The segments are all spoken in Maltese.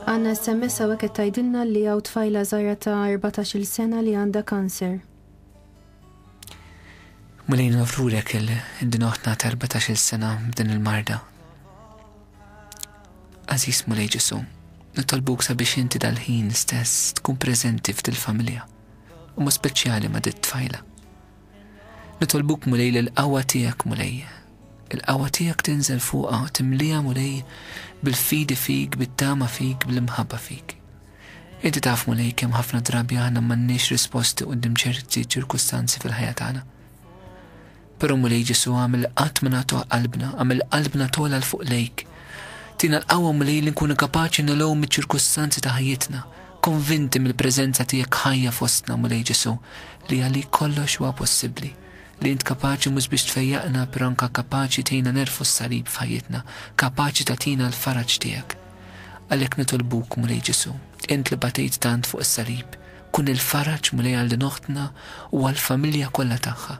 Għanna SMS għawek qed tgħidilna li għaw tfajla żgħira ta' 14-il sena li għandha kanser. Mulejn nofrulek il-dinoħna ta' 14-il sena din il-marda. Aziz Mulej Ġesu, nitolbuk sabiex inti dal-ħin stess tkun preżenti f'dil-familja u ma speċjali ma dit tfajla. Nitolbuk Mulej li l-qawwa tiegħek Mulej. Il-qawwa tiegħek tinżel fuqha u timliha Mulej bil-fidi fik, bit-tama fik, bl-imħabba fik. Inti taf Mulej kemm ħafna drabi aħna m'għandniex risposti quddiem ċerti ċirkustanzi fil-ħajja tagħna. Però Mulej Ġesu għamil qatt ma nagħtuh qalbna, għamil qalbna tola l fuq lejk. Tina l-qawwa Mulej li nkunu kapaċi nilgħu miċ-ċirkustanzi ta' ħajjitna Konvinti mill-preżenza tiegħek ħajja fostna, Mulej Ġesù, li għalik kollox huwa possibbli, li int kapaċi mhux biex tfejjaqna però anke kapaċi tgħinna negħrfu s-salib f'ħajjitna, kapaċi tagħtina l-faraġ tiegħek. Għalhekk nitolbuk, Mulej Ġesù, int li batejt tant fuq is-salib, kun il-faraġ, Mulej, għal din oħtna u għall-familja kollha tagħha.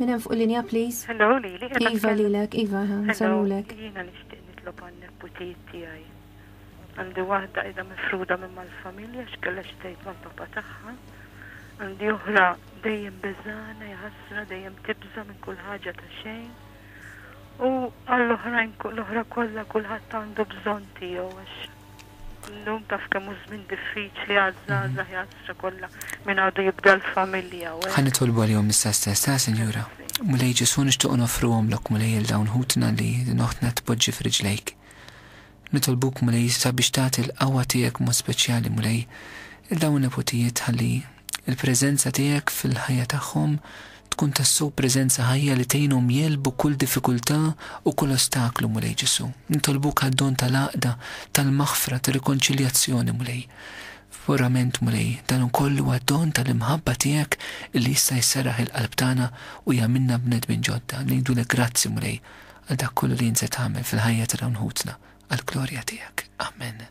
Minn hemm fuq linja please. Hello lili. Iva lilek, iva, nsellulek. Jiena nixtieq nitlob għal neputijiet tiegħi. Għandi waħda qiegħda mifruda minn mal-familja x'kellha xi tgħid mal-papa tagħha. Għandi oħra dejjem beżana jħassra dejjem tibża' minn kull ħaġa ta' xejn. U għall-oħrajn l-oħra kollha kulħadd għandu bżonn tiegħu għax Illum taf kemm hu żmien diffiċli għaż-żgħażagħ jgħażżra kollha min għadu jibda l-familja u hekk. Ħa nitolbu għalihom l-istess stess, ha, Sinjura? Mulej Ġesù nixtiequ noffruhomlok, Mulej, lil dawn ħutna li din oħtna tpoġġi f'riġlejk. Nitolbuk, Mulej, sabiex tagħti l-qawwa tiegħek b'mod speċjali, Mulej, lil dawn in-neputijiet ħalli Il-preżenza tiegħek fil-ħajja tagħhom tkun tassew preżenza ħajja li tgħinhom jegħlbu kull diffikultà u kull ostaklu, Mulej Ġesù. Nitolbuk għad-don tal-għaqda, tal-maħfra, tar-rikonċiljazzjoni, Mulej. Verament, Mulej, dan ukoll huwa don tal-imħabba tiegħek illi jista' jserraħ il-qalb tagħna u jagħmilna bnedmin ġodda. Ngħidulek grazzi, Mulej, għal dak kollu li int se tagħmel fil-ħajja ta' dawn ħutna, għall-glorja tiegħek. Amen.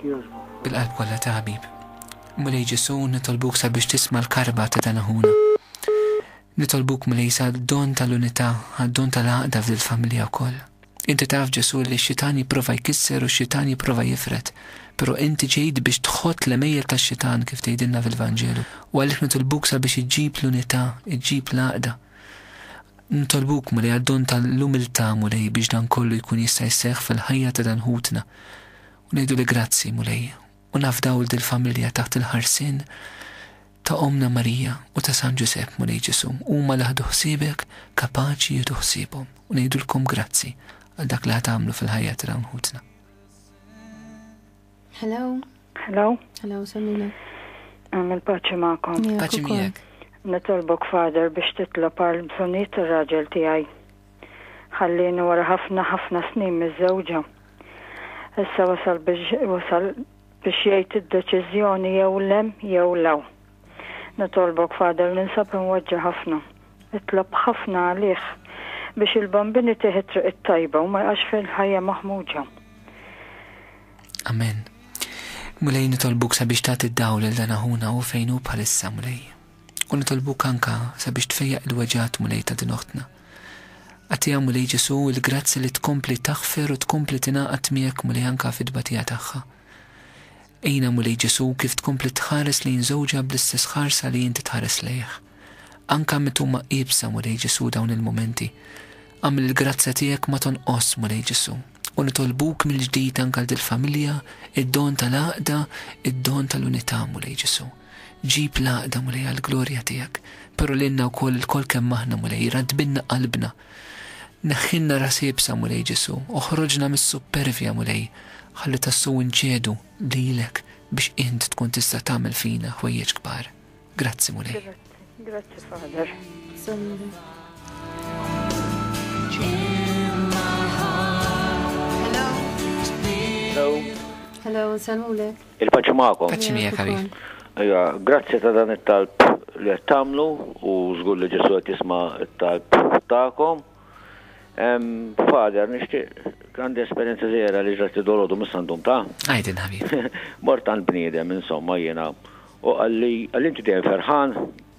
Bil-qalb kollha ta' ħabib. Mulej Ġesù, nitolbuk sabiex tisma' l-karba ta' dan aħuna. Nitolbuk Mulej sad-don tal-unità, għad-don tal-għaqda f'dil familja wkoll. Inti taf Ġesù li x-xitan jipprova jkisser u x-xitan jipprova jifred, però inti ġejt biex tħott l-għemejjel tax-xitan kif tgħidilna fil-Vanġelu u għalhekk nitolbuk sabiex iġġib l-unità, iġġib l-għaqda. Nitolbuk, Mulej, għad-don ta' l-umiltà, Mulej, biex dan kollu jkun jista' jseħħ fil-ħajja ta' dan ħutna. U ngħidulek grazzi, Mulej, u nafdaw 'l dil-familja taħt il-ħarsien ta' Ommna Marija u ta' San Ġużepp, Mulej Ġesù, huma li ħadu ħsiebek kapaċi jieħdu ħsiebhom. U ngħidulkom grazzi għal dak li ħa tagħmlu fil-ħajja ta' dawn ħutna. Hello. Hello. Hello, Samina. Għamil paċi ma'kom. Paċi miegħek. Nitolbok fader biex titlob għal bżonijiet ir-raġel tiegħi. Ħallini wara ħafna ħafna snin miż-żewġa. Issa wasal biex wasal biex jgħid id-deċiżjoni jew lem jew law. Nitolbok Father ninsab imweġġa' ħafna. Itlob ħafna għalih biex il-bambin itih it-triq it-tajba u ma jqax fil-ħajja maħmuġa. Amen. Mulej nitolbuk sabiex tagħti d-dawl lil dan aħuna hu fejn hu bħalissa Mulej. U nitolbuk anka sabiex tfejjaq il-weġgħat Mulej ta' din oħtna. Agħtiha Mulej Ġesu il-grazzja li tkompli taħfer u tkompli tingħaqad miegħek Mulej anka fid-tbatija tagħha. Għinha, Mulej Ġesù, kif tkompli tħares lejn żewġha bl-istess ħarsa li inti tħares lejh. Anka met huma iebsa, Mulej Ġesù, dawn il-mumenti. Agħmel il-grazzja tiegħek ma tonqosx, Mulej Ġesù. U nitolbuk mill-ġdid anke għal dil-familja, id-don tal-għaqda, id-don tal-unità, Mulej Ġesù. Ġib l-għaqda, Mulej, għall-glorja tiegħek. Però lilna wkoll, ilkoll kemm aħna, Mulej, raddbilna qalbna. Neħħilna ras iebsa, Mulej Ġesù, oħroġna mis-suppervja, Mulej, ħalli tassew inċedu lilek biex int tkun tista' tagħmel fina ħwejjeġ kbar. Grazzi, Mulej. Grazzi, Father. Hello. Hello, nsalmulek. Il-paċi magħkom. Paċi miegħek ħabib. Ejja, grazzi ta' dan it-talb li qed tagħmlu u żgur li Ġesu qed jisma' t-talb tagħkom. Father, nixtieq għandi esperjenza żgħira li ġrat id-dolodu mis-sandum ta'. Għajdin ħabib. Mort għand bniedem insomma jiena u qalli għal inti dejjem ferħan.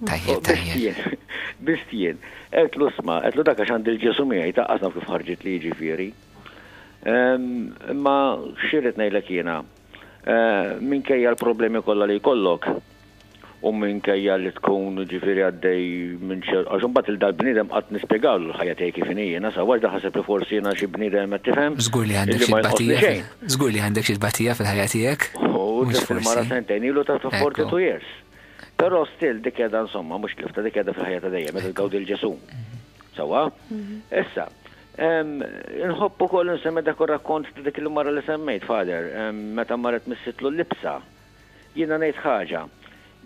Tajjeb, tajjeb. Bistien, qedlu sma, qedlu dak għax għandi l-Ġesu miegħi ta' qasna kif ħarġit li jiġifieri. Imma xirrid ngħidlek jiena, Minkejja l-problemi kollha li jkollok u minkejja li tkun ġifieri għaddej minn xi għax imbagħad lil dal-bniedem qatt nispjegawlu l-ħajja tiegħi kif inhi jiena sa waħda ħaseb li forsi jiena xi bniedem qed tifhem illi ma jonqosni xejn. Żgur li għandek xi tbatija fil-ħajja tiegħek. U tlift il-mara sentejn ilu ta' 42 years. Però still dik qiegħda insomma mhux tlifta dik qiegħda fil-ħajja ta' dejjem qed tgawdi l-Ġesù. Sewwa? Issa, Inħobb ukoll insemmi dak ir-rakkont ta' dik il-mara li semmejt, Father, meta marret missitlu l-libsa. Jiena ngħid ħaġa,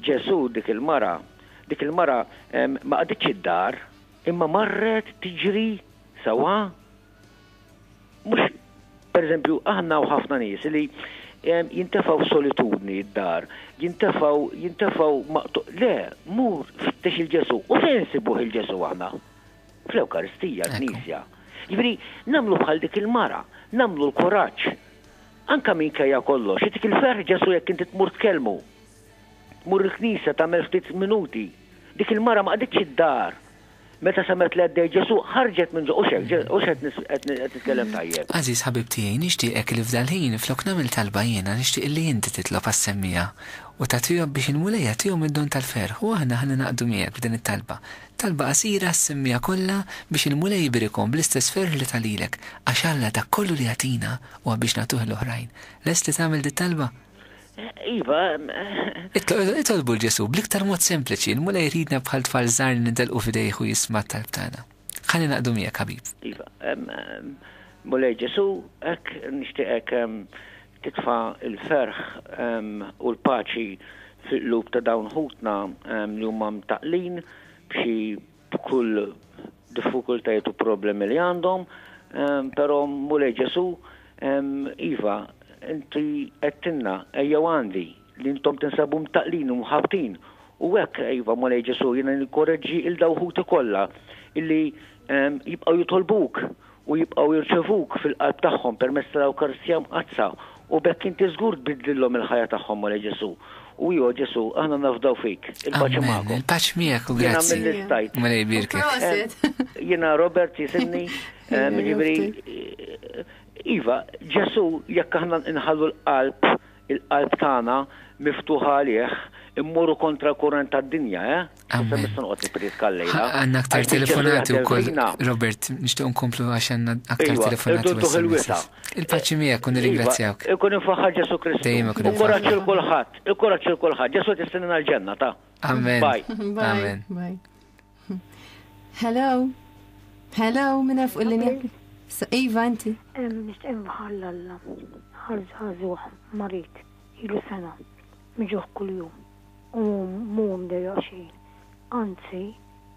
Ġesù dik il-mara, dik il-mara ma qagħditx id-dar, imma marret tiġri sewwa. Mhux, per eżempju, aħna hawn ħafna nies li jintefgħu f'solitudni d-dar, jintefgħu, jintefgħu maqtu'. Le, mur fittex il-Ġesù. U fejn insibuh il-Ġesù aħna? Fl-Ewkaristija, l-Knisja. Jiġifieri, nagħmlu bħal dik il-mara, nagħmlu l-kuraġġ. Anke minkejja kollox, jagħtik il-ferħ Ġesù jekk inti tmur tkellmu. Tmur il-Knisja, tagħmel ftit minuti. Dik il-mara ma qagħditx id-dar. Meta semgħet li għaddej Ġesù, ħarġet minn ġo, hux hekk, hux qed nitkellem tajjeb? Għażiż ħabib tiegħi, nixtieqek li f'dal-ħin, flok nagħmel talba jiena, nixtieq illi inti titlob għas-semmiegħa u tat-twieqeb biex il-Mulej jagħtihom id-don tal-ferħ u aħna ħa ningħaqdu miegħek f'din it-talba. Talba qasira semmiha kollha biex il-Mulej jibirikhom bl-istess ferħ li ta lilek, għax Alla dak kollu li jagħtina huwa biex nagħtuh 'l oħrajn. Lest li tagħmel dit-talba? Iva. Itolbu 'l Ġesù bl-iktar mod sempliċi, il-Mulej iridna bħal tfal żgħar li nintelqu f'idejh u jisma' t-talb tagħna. Ħa ningħaqdu miegħek, ħabib. Iva. Mulej Ġesù, hekk nixtieqek titfa' l-ferħ u l-paċi fil-qlub ta' dawn ħutna li huma mtaqqlin b'xi b'kull diffukultajiet u problemi li għandhom, pero' Mulej Ġesu' iva, inti għedtilna, ejjew għandi, li intom tinsabu mtaqqlin u mħabbtin, u hekk, iva, Mulej Ġesù, jiena nikkoreġġi lil daw ħuti kollha illi jibqgħu jitolbuk u jibqgħu jirċevuk fil-qalb tagħhom permezz tal-Ewkaristija Mqaddsa, u b'hekk inti żgur tbiddlilhom il-ħajja tagħhom, Mulej Ġesù. U iva, Ġesù, aħna nafdaw fik. Il-paċi magħkom. Amen. Il-paċi miegħek u grazzi. Jiena milli stajt. Mulej jbierkek. Jiena Robert jisimni, jiġifieri, iva, Ġesù, jekk aħna nħallu l-qalb il-qalb tagħna miftuħa għalih, immorru kontra l-kurrent tad-dinja, eh? Issa Amen. nista' noqgħod nippriedka l-lejla. Għandna aktar Għax biċċa telefonati sejħa wkoll, tevina. Robert, nixtieq nkomplu għax għandna aktar Iva, telefonati irdu u ntuħ il-wisa. SMS. Il-paċi miegħek u nirringrazzjawk. Iva, ikun infaħħar Ġesu Kristu. Dejjem ikun Ikkoraġġi imfaħħar. l kulħadd, ikkoraġġi l kulħadd. Ġesu qed jistenna l-ġenna ta'. Amen. Bye. Bye. Amen. Bye. Hello. Hello, minna fuq il-linja. Iva, inti. Nishtiq nħall alla. Ħazzazuħ, marit, ilu sena, miġuħ kull-jum. U mum deja xejn. Anzi,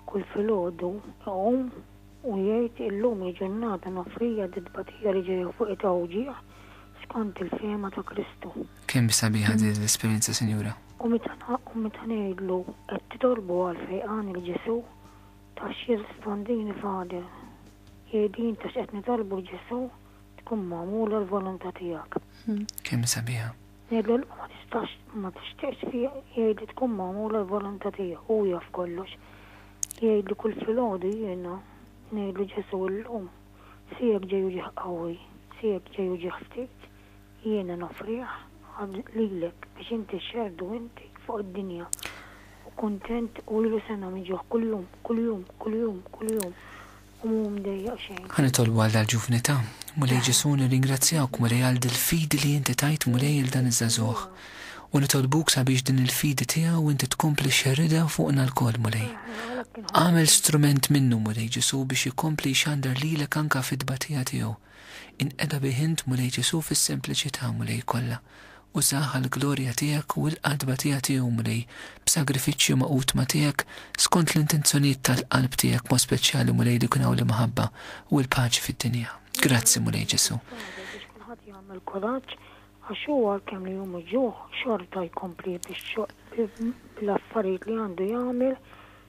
kull fil-ħodu, għum, u jgħid illum il-ġurnata nafrija d-dbatija li ġeja fuq it-tawġiħ skont il-fema ta' Kristu. Kemm sabiħa di l-esperjenza Sinjura. U meta ngħidlu qed titolbu għall-fejqan il Ġesù, tafx jirrispondini Father? Jgħidin tafx qed nitolbu l Ġesù tkun magħmula l-volontà tiegħek. Kemm sabiħa. Ngħidlu le ma tistax ma tixtieqx jgħidli tkun magħmula l-volontà tiegħu, hu jaf kollox. Jgħidli kull filgħodu jiena ngħidlu Ġesù illum siegħek ġej u ġieħ qawwi, siegħek ġej u ġieħ ftit, Jiena noffrih lilek biex inti xxerdu inti fuq id-dinja u kuntent u lilu sena miġjuħ kuljum, kuljum, kuljum, kuljum u mhu mdejjaq xejn. Ħa nitolbu għal dal-ġuvni ta'. Mulej Ġesù nirringrazzjawk Mulej għal dil-fidi li inti tajt Mulej il dan iż-żagħżugħ u nitolbuk sabiex din il-fidi tiegħu inti tkompli xxerridha fuqna lkoll Mulej. Agħmel strument minnu Mulej Ġesù biex ikompli jxandar lilek anke fit-tbatija tiegħu. Inqeda bih int, Mulej Ġesù, fis-sempliċità, Mulej, kollha. Użah għall-glorja tiegħek u l-qadba tiegħek tiegħu, Mulej, b'sagrifiċċju magħqud ma' tiegħek, skont l-intenzjonijiet tal-qalb tiegħek, b'mod speċjali, Mulej, li jkun hawn l-imħabba u l-paċi fid-dinja. Grazzi, Mulej Ġesù. Issa nagħżel biex kulħadd jagħmel kuraġġ, għax hu għalkemm li hu miġjugħ, xorta jkompli biex bl-affarijiet li għandu jagħmel